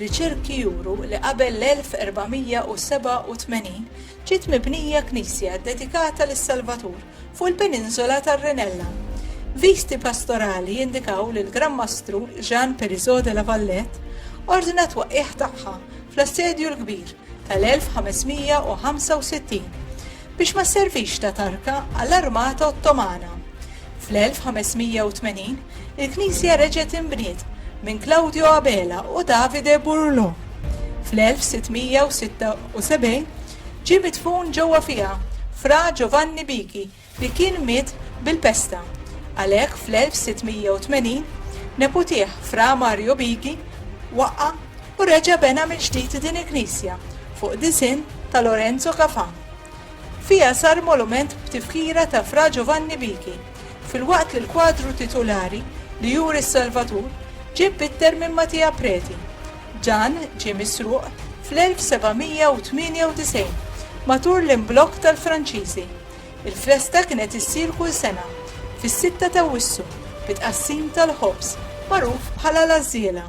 Riċerki juru li qabel l-1487 ġiet mibnija knisja ddedikata lis-Salvatur fuq il-peniżola tar-Renella. Visti pastorali jindikaw li l-Gran Mastru Jean Périzeau de la Valette ordna t-twaqqigħ tagħha fl-Assedju l-Kbir tal-1565. biex ma sservix ta' tarka għall-armata Ottomana. Fl-1580, il-knisja reġgħet inbniet minn Claudio Abela u Davide Burlo. Fl-1676, ġie midfun ġewwa fiha Fra Giovanni Bichi li kien miet bil-pesta. Għalhekk fl-1680, neputieh Fra Mario Bichi waqqa' u reġa' bena mill-ġdid din il-knisja fuq disinn ta' Lorenzo Cafà. Fiha sar molument b'tifkira ta' Fra Giovanni Bichi, filwaqt li l-kwadru titulari li juri s-Salvatur ġie bbitter minn Mattia Preti. Dan ġie misruq fl-1798 matul l-imblokk tal-Franċiżi. Il-festa kienet issir kull sena fis-sitta t'Awwissu bi tqassim tal-ħobż magħruf bħala l-għażżiela.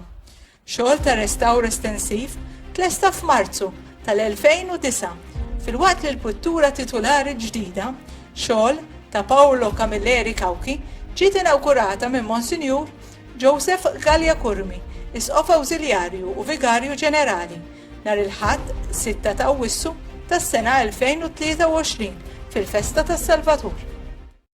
Xogħol ta' restawr estensiv tlesta f'Marzu tal-2009 filwaqt li l-pittura titulari ġdida, xogħol ta' Paolo Camilleri Cauchi, ġiet inawgurata minn Monsinjur Joseph Galea Curmi, Isqof Awżiljarju u Vigarju Ġenerali, nhar il-Ħadd 6 ta' Awwissu tas-sena 2023 fil-Festa tas-Salvatur.